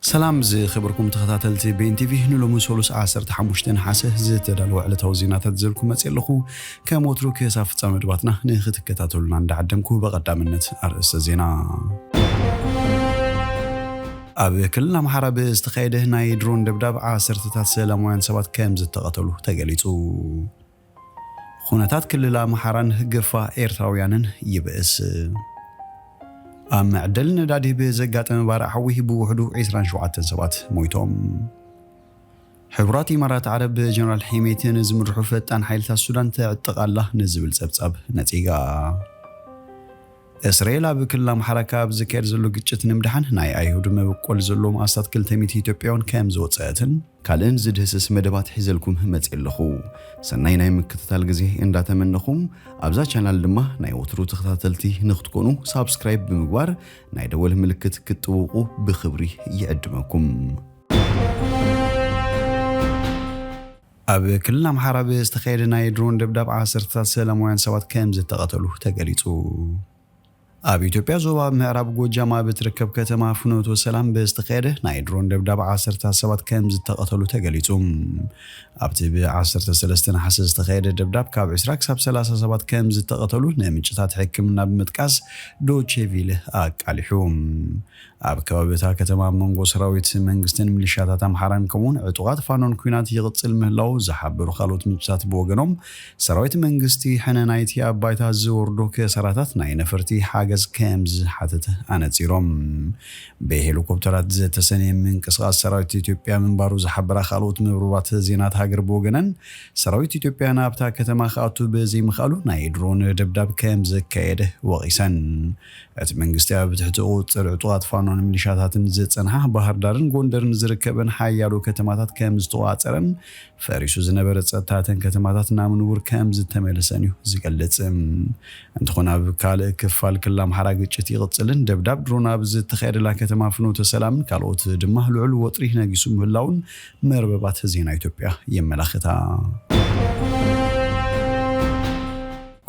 ሰላም ዝኸበርኩም ተኸታተልቲ ቤን ቲቪ ንሎሚ ሰሉስ ዓሰርተ ሓሙሽተ ነሓሰ ዝተዳለወ ዕለታዊ ዜናታት ዝዘልኩም መፅእ ኣለኹ ከም ወትሩ ክሳብ ፍፃመ መድባትና ንክትከታተሉና እንዳዓደምኩ በቐዳምነት ኣርእስተ ዜና ኣብ ክልል ኣምሓራ ብዝተኻየደ ናይ ድሮን ደብዳብ ዓሰርተታት ሰላማውያን ሰባት ከም ዝተቐተሉ ተገሊጹ። ኹነታት ክልል ኣምሓራን ግፋ ኤርትራውያንን ይብእስ። ኣብ መዐደሊ ነዳዲ ብዘጋጠመ ባርዕ ሓዊ ብውሕዱ ዕስራን ሸውዓተን ሰባት ሞይቶም። ሕቡራት ኢማራት ዓረብ ብጀነራል ሒሜቲ ንዝምርሑ ፈጣን ሓይልታት ሱዳን ተዕጥቕ ኣላ ንዝብል ጸብጻብ ነጺጋ። እስራኤል ኣብ ክልል ኣምሓራ ካብ ዝካየድ ዘሎ ግጭት ንምድሓን ናይ ኣይሁድ መበቆል ዘለዎም ኣስታት ክልተ ሚእቲ ኢትዮጵያውያን ከም ዝወጸአትን ካልእን ዝድህስስ መደባት ሒዘልኩም መጺኤ ኣለኹ። ሰናይ ናይ ምክትታል ግዜ እንዳተመነኹም ኣብዛ ቻናል ድማ ናይ ወትሩ ተኸታተልቲ ንክትኮኑ ሳብስክራይብ ብምግባር ናይ ደወል ምልክት ክትጥውቑ ብኽብሪ ይዕድመኩም። ኣብ ክልል ኣምሓራ ብዝተኻየደ ናይ ድሮን ደብዳብ ዓሰርተታት ሰላማውያን ሰባት ከምዝተቐተሉ ተገሊፁ። ኣብ ኢትዮጵያ ዞባ ምዕራብ ጎጃም ኣብ እትርከብ ከተማ ፍኖተ ሰላም ብዝተኻየደ ናይ ድሮን ደብዳብ ዓሰርተታት ሰባት ከምዝተቐተሉ ተገሊፁ። ኣብቲ ብ 13 ነሓሰ ዝተኻየደ ደብዳብ ካብ 20 ክሳብ 30 ሰባት ከምዝተቐተሉ ንምንጭታት ሕክምና ብምጥቃስ ዶቼ ቪለ ኣቃሊሑ። ኣብ ከባቢ እታ ከተማ ኣብ መንጎ ሰራዊት መንግስትን ሚሊሻታት ኣምሓራን ከምኡ'ውን ዕጡቓት ፋኖን ኲናት ይቕጽል ምህላዉ ዝሓበሩ ካልኦት ምንጭታት ብወገኖም፣ ሰራዊት መንግስቲ ሕነ ናይቲ ኣብ ባይታ ዝወርዶ ክሳራታት ናይ ነፈርቲ ሓገዝ ከምዝሓተተ ኣነጺሮም። ብሄሊኮፕተራት ዝተሰነየ ምንቅስቓስ ሰራዊት ኢትዮጵያ ምንባሩ ዝሓበራ ካልኦት መርበባት ዜናት ሃገር ብወገነን፣ ሰራዊት ኢትዮጵያ ናብታ ከተማ ክኣቱ ብዘይምኽኣሉ ናይ ድሮን ደብዳብ ከምዘካየደ ወቒሰን። እቲ መንግስቲ ኣብ ትሕቲ ቁፅፅር ዕጡቓት ፋኖን ሚሊሻታትን ዝፀንሓ ባህርዳርን ጎንደርን ዝርከበን ሓያሎ ከተማታት ከምዝተቖፃፀረን ፈሪሱ ዝነበረ ፀጥታ እተን ከተማታት ናብ ንቡር ከምዝተመለሰን እዩ ዝገልፅ። እንትኾን ኣብ ካልእ ክፋል ክልል ኣምሓራ ግጭት ይቕፅልን ደብዳብ ድሮን ኣብ ዝተኻየደላ ከተማ ፍኖተ ሰላምን ካልኦት ድማ ልዑል ወጥሪ ነጊሱ ምህላዉን መርበባት ዜና ኢትዮጵያ የመላኽታ።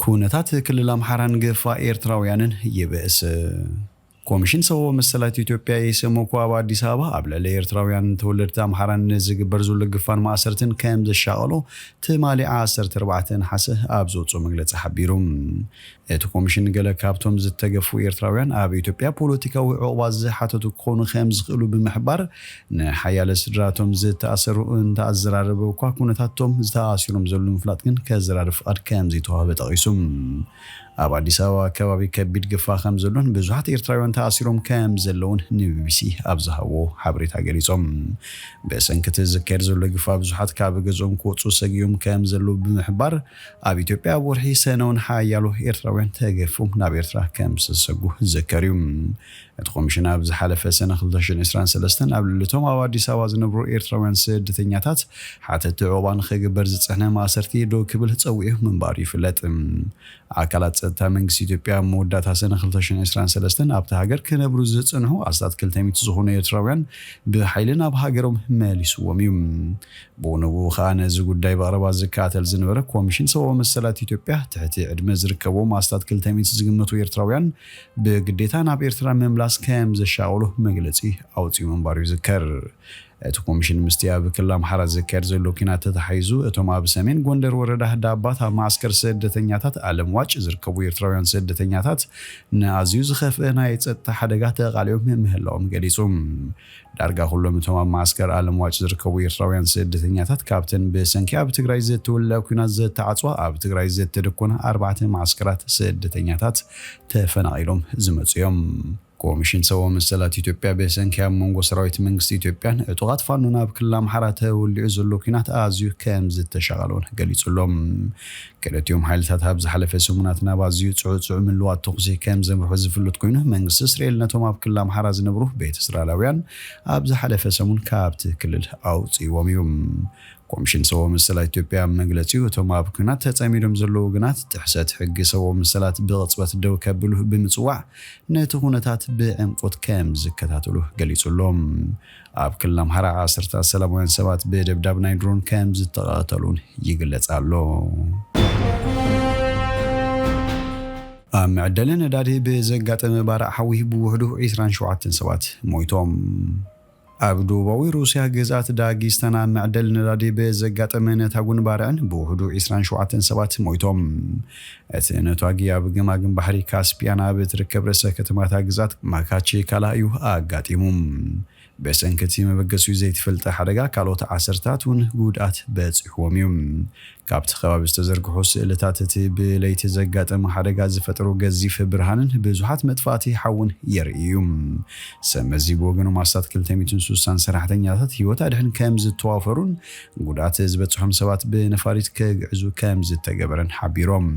ኩነታት ክልል ኣምሓራን ግፋ ኤርትራውያንን ይብእስ። ኮሚሽን ሰብኣዊ መሰላት ኢትዮጵያ፣ ኤሰመኮ፣ ኣብ ኣዲስ ኣበባ ኣብ ልዕሊ ኤርትራውያን ተወለድቲ ኣምሓራ ንዝግበር ዘሎ ግፋን ማእሰርትን ከም ዘሻቐሎ ትማሊ ዓሰርተ ኣርባዕተ ነሓሰ ኣብ ዘውጽኦ መግለጺ ሓቢሩ። እቲ ኮሚሽን ገለ ካብቶም ዝተገፉ ኤርትራውያን ኣብ ኢትዮጵያ ፖለቲካዊ ዑቕባ ዝሓተቱ ክኾኑ ከም ዝኽእሉ ብምሕባር፣ ንሓያለ ስድራ እቶም ዝተኣሰሩ እንተ ኣዘራረበ እኳ፣ ኩነታት እቶም ዝተኣሲሮም ዘሉ ንምፍላጥ ግን ከዘራርብ ፍቓድ ከም ዘይተዋህበ ጠቒሱ። ኣብ ኣዲስ ኣበባ ከባቢ ከቢድ ግፋ ከም ዘሎን ብዙሓት ኤርትራውያን ተኣሲሮም ከም ዘለዉን ንቢቢሲ ኣብ ዝሃብዎ ሓበሬታ ገሊጾም። ብሰንኪ እቲ ዝካየድ ዘሎ ግፋ ብዙሓት ካብ ገዝኦም ክወጽኡ ሰጊኦም ከም ዘለዉ ብምሕባር፣ ኣብ ኢትዮጵያ ኣብ ወርሒ ሰነ'ውን ሓያሎ ኤርትራውያን ተገፊፎም ናብ ኤርትራ ከም ዝተሰጉ ዝዝከር'ዩ። እቲ ኮሚሽን ኣብ ዝሓለፈ ሰነ ክልተ ሽሕን ዕስራን ሰለስተን ኣብ ልዕሊ እቶም ኣብ ኣዲስ ኣበባ ዝነብሩ ኤርትራውያን ስደተኛታት ሓተቲ ዑቕባ ንኽግበር ዝጸንሐ ማእሰርቲ ደው ክብል ጸዊዑ ምንባሩ ይፍለጥ። ኣካላት ጸጥታ መንግስቲ ኢትዮጵያ ኣብ መወዳእታ ሰነ ክልተ ሽሕን ዕስራን ሰለስተን ኣብታ ሃገር ክነብሩ ዝጸንሑ ኣስታት ክልተ ሚእቲ ዝኾኑ ኤርትራውያን ብሓይሊ ናብ ሃገሮም መሊስዎም እዩ። ብኡንብኡ ከኣ ነዚ ጉዳይ ብቐረባ ዝከታተል ዝነበረ ኮሚሽን ሰብኣዊ መሰላት ኢትዮጵያ ትሕቲ ዕድመ ዝርከብዎም ኣስታት ክልተ ሚእቲ ዝግመቱ ኤርትራውያን ብግዴታ ናብ ኤርትራ ምምላስ ከም ዘሻቕሎ መግለጺ ኣውጺኡ ምንባሩ ይዝከር። እቲ ኮሚሽን ምስቲ ኣብ ክልል ኣምሓራ ዝካየድ ዘሎ ኲናት ተተሓሒዙ እቶም ኣብ ሰሜን ጎንደር ወረዳ ዳባት ኣብ መዓስከር ስደተኛታት ኣለምዋጭ ዝርከቡ ኤርትራውያን ስደተኛታት ንኣዝዩ ዝኸፍኣ ናይ ጸጥታ ሓደጋ ተቓሊዖም ምህላዎም ገሊጹ። ዳርጋ ኩሎም እቶም ኣብ መዓስከር ኣለምዋጭ ዝርከቡ ኤርትራውያን ስደተኛታት ካብተን ብሰንኪ ኣብ ትግራይ ዘተወልዐ ኲናት ዘተዓጽዋ ኣብ ትግራይ ዘተደኮና ኣርባዕተ መዓስከራት ስደተኛታት ተፈናቒሎም ዝመጹ እዮም። ኮሚሽን ሰብኣዊ መሰላት ኢትዮጵያ ብሰንኪ ኣብ መንጎ ሰራዊት መንግስቲ ኢትዮጵያን ዕጡቓት ፋኖን ኣብ ክልል ኣምሓራ ተወሊዑ ዘሎ ኲናት ኣዝዩ ከምዝተሻቐለ'ውን ገሊጹ'ሎ። ክልቲኦም ሓይልታት ኣብ ዝሓለፈ ሰሙናት ናብ ኣዝዩ ጽዑጽዑ ምልዋጥ ተኹሲ ከም ዘምርሑ ዝፍሉጥ ኮይኑ፣ መንግስቲ እስርኤል ነቶም ኣብ ክልል ኣምሓራ ዝነብሩ ቤት እስራላውያን ኣብ ዝሓለፈ ሰሙን ካብቲ ክልል ኣውጺእዎም እዩ። ኮምሽን ሰብዊ መሰላት ኢትዮጵያ ኣብ መግለጺኡ እቶም ኣብ ኩናት ተጸሚዶም ዘለዉ ወገናት ጥሕሰት ሕጊ ሰብዊ መሰላት ብቕጽበት ደው ከብሉ ብምጽዋዕ ነቲ ኩነታት ብዕምቁት ከም ዝከታተሉ ገሊጹ ኣሎ። ኣብ ክልል ኣምሓራ ዓሰርተታት ሰላማውያን ሰባት ብደብዳብ ናይ ድሮን ከምዝተቐተሉን ይግለጽ ኣሎ። ኣብ መዐደሊ ነዳዲ ብዘጋጠመ ባርዕ ሓዊ ብውሕዱ ዒስራን ሸውዓተን ሰባት ሞይቶም። ኣብ ደቡባዊ ሩስያ ግዝኣት ዳጊስታን ኣብ መዐደሊ ነዳዲ ብዘጋጠመ ነታጉን ባርዕን ብውሕዱ ዒስራን ሸውዓተን ሰባት ሞይቶም። እቲ ነቷጊ ኣብ ገማግም ባሕሪ ካስፒያን ኣብ እትርከብ ርእሰ ከተማ እታ ግዝኣት ማካቼካላ እዩ ኣጋጢሙ። ብሰንኪ እቲ መበገሲኡ ዘይተፈልጠ ሓደጋ ካልኦት ዓሰርታት እውን ጉድኣት በጺሑዎም እዩ። ካብቲ ከባቢ ዝተዘርግሑ ስእልታት እቲ ብለይቲ ዘጋጠመ ሓደጋ ዝፈጠሮ ገዚፍ ብርሃንን ብዙሓት መጥፋእቲ ሓውን የርእይ እዩ። ሰብመዚ ብወገኖም ኣስታት ክልተ ሚእትን ሱሳን ሰራሕተኛታት ህይወት ኣድሕን ከምዝተዋፈሩን ጉድኣት ዝበፅሖም ሰባት ብነፋሪት ክግዕዙ ከምዝተገበረን ሓቢሮም።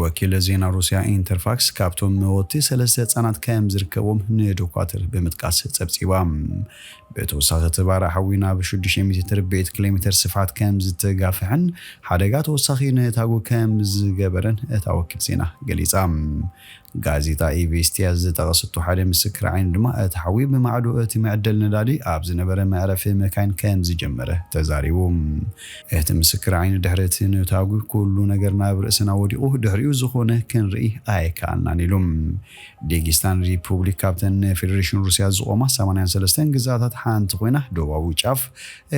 ወኪል ዜና ሩስያ ኢንተርፋክስ ካብቶም መወቲ ሰለስተ ህፃናት ከምዝርከብዎም ንዶኳትር ብምጥቃስ ፀብፂባ። ብተወሳኺ እቲ ባርዕ ሓዊ ናብ ሽዱሽተ ሚእቲ ትርብዒት ኪሎሜተር ስፍሓት ከምዝተጋፍሐን ሓደጋ ተወሳኺ ነታጉ ከምዝገበረን እታ ወኪል ዜና ገሊፃ። ጋዜጣ ኢቬስቲያ ዝጠቐሰቶ ሓደ ምስክር ዓይኒ ድማ፣ እቲ ሓዊ ብማዕዶ እቲ መዐደሊ ነዳዲ ኣብ ዝነበረ መዕረፊ መካይን ከም ዝጀመረ ተዛሪቡ። እቲ ምስክር ዓይኒ ድሕሪ እቲ ነታጒ ኵሉ ነገር ናብ ርእስና ወዲቑ፣ ድሕሪኡ ዝዀነ ክንርኢ ኣይከኣልናን ኢሉ። ዴጊስታን ሪፑብሊክ ካብተን ንፌደሬሽን ሩስያ ዝቖማ ሰማንያን ሰለስተን ግዝኣታት ሓንቲ ኰይና፣ ደቡባዊ ጫፍ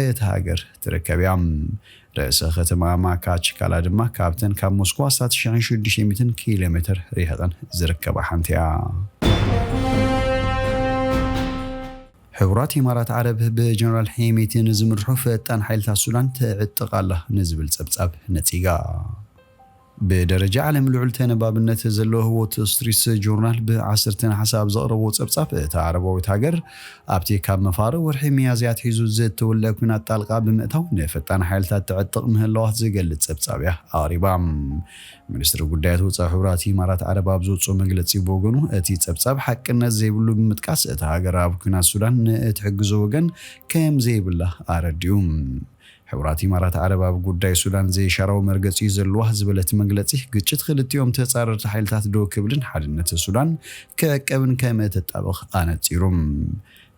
እታ ሃገር ትርከብ እያ። ርእሰ ከተማኣ ማካችካላ ድማ ካብተን ካብ ሞስኮ ኣስታት ሽሕን ሽዱሽተ ሚእትን ኪሎ ሜተር ርሒቐን ዝርከባ ሓንቲ'ያ። ሕቡራት ኢማራት ዓረብ ብጀነራል ሄሚቲ ንዝምርሑ ፈጣን ሓይልታት ሱዳን ትዕጥቕ ኣላ ንዝብል ጸብጻብ ነጺጋ። ብደረጃ ዓለም ልዑል ተነባብነት ዘለዎ ዎት ስትሪትስ ጆርናል ብ ዓሰርተ ነሓሰ ኣብ ዘቕረቦ ጸብጻብ፣ እታ ዓረባዊት ሃገር ኣብቲ ካብ መፋርቕ ወርሒ ሚያዝያ ኣትሒዙ ዝተወልዐ ኲናት ጣልቃ ብምእታው ንፈጣን ሓይልታት ተዕጥቕ ምህላዋ ዝገልጽ ጸብጻብ'ያ ኣቕሪባ። ሚኒስትሪ ጉዳያት ወጻኢ ሕቡራት ኢማራት ዓረብ ኣብ ዘውጽኦ መግለጺ ብወገኑ፣ እቲ ጸብጻብ ሓቅነት ዘይብሉ ብምጥቃስ፣ እታ ሃገር ኣብ ኲናት ሱዳን ንእትሕግዞ ወገን ከምዘይብላ ኣረዲኡ። ሕቡራት ኢማራት ዓረብ ኣብ ጉዳይ ሱዳን ዘይሻራዊ መርገጺ'ዩ ዘለዋ ዝበለት መግለጺ ግጭት ክልቲኦም ተጻረርቲ ሓይልታት ደው ክብልን ሓድነት ሱዳን ክዕቀብን ከምእተጣብቕ ኣነጺሩ።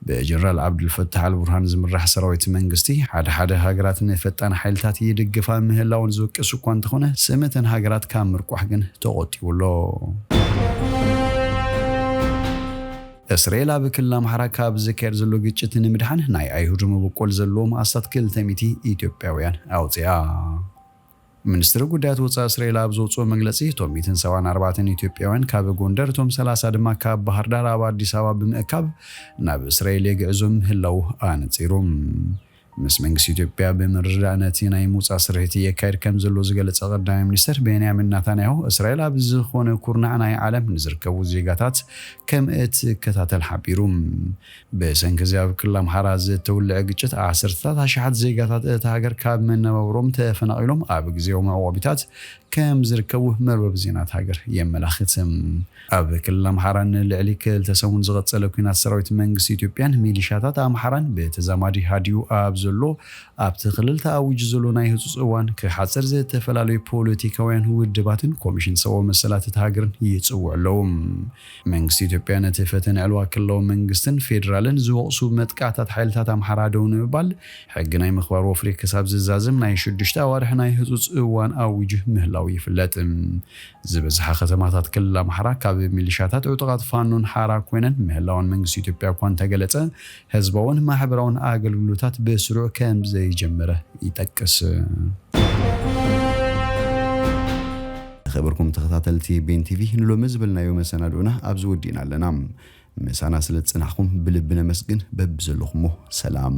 ብጀነራል ዓብዱልፈታሕ ኣልቡርሃን ዝምራሕ ሰራዊት መንግስቲ ሓደ ሓደ ሃገራት ንፈጣን ሓይልታት ይድግፋ ምህላወን ዝውቅስ እኳ እንተኾነ ስም እተን ሃገራት ካብ ምርቋሕ ግን ተቖጢቡ ኣሎ። እስርኤል ኣብ ክልል ኣምሓራ ካብ ዝካየድ ዘሎ ግጭት ንምድሓን ናይ ኣይሁድ መበቆል ዘለዎም ኣስታት ክልተ ሚእቲ ኢትዮጵያውያን ኣውፂኣ። ሚኒስትሪ ጉዳያት ወፃኢ እስርኤል ኣብ ዘውፅኦ መግለፂ እቶም ሚእትን ሰብዓን ኣርባዕተን ኢትዮጵያውያን ካብ ጎንደር እቶም ሰላሳ ድማ ካብ ባህርዳር ኣብ ኣዲስ ኣበባ ብምእካብ ናብ እስርኤል የግዕዞም ምህላዉ ኣነፂሩ። ምስ መንግስቲ ኢትዮጵያ ብምርድዳእ ነቲ ናይ ምውጻእ ስርሒት የካይድ ከምዘሎ ዝገለጸ ቀዳማይ ሚኒስተር ቤንያሚን ናታንያሁ፣ እስራኤል ኣብ ዝኾነ ኩርናዕ ናይ ዓለም ንዝርከቡ ዜጋታት ከምእትከታተል ሓቢሩ። ብሰንኪ እዚ ኣብ ክልል ኣምሓራ ዝተውለዐ ግጭት ዓሰርተታት ኣሽሓት ዜጋታት እታ ሃገር ካብ መነባብሮኦም ተፈናቒሎም ኣብ ግዝያዊ መዕቖቢታት ከምዝርከቡ መርበብ ዜና እታ ሃገር የመላኽት። ኣብ ክልል ኣምሓራ ንልዕሊ ክልተ ሰሙን ዝቐጸለ ኲናት ሰራዊት መንግስቲ ኢትዮጵያን ሚሊሻታት ኣምሓራን ብተዛማዲ ሃዲኡ ኣብ ዘሎ ኣብቲ ክልል ተኣዊጁ ዘሎ ናይ ህጹጽ እዋን ክሓጽር ዝተፈላለዩ ፖለቲካውያን ውድባትን ኮሚሽን ሰብኣዊ መሰላት እታ ሃገርን ይጽውዑ ኣለዉ። መንግስቲ ኢትዮጵያ ነቲ ፈተነ ዕልዋ ክልላዊ መንግስትን ፌደራልን ዝወቕሱ መጥቃዕታት ሓይልታት ኣምሓራ ደው ንምባል ሕጊ ናይ ምኽባር ወፍሪ ክሳብ ዝዛዘም ናይ ሽዱሽተ ኣዋርሕ ናይ ህጹጽ እዋን ኣዊጁ ምህላዉ ይፍለጥ። ዝበዝሓ ከተማታት ክልል ኣምሓራ ካብ ሚሊሻታት ዕጡቓት ፋኖን ሓራ ኮይነን ምህላወን መንግስቲ ኢትዮጵያ እኳ እንተገለፀ ህዝባውን ማሕበራውን ኣገልግሎታት ብስሩዕ ከምዘይጀመረ ይጠቅስ። ዝኸበርኩም ተኸታተልቲ ቤን ቲቪ ንሎሚ ዝበልናዮ መሰናድኡና ኣብዚ ወዲእና ኣለና። ምሳና ስለ ዝጸናሕኩም ብልቢ ነመስግን። በብዘለኹሞ ሰላም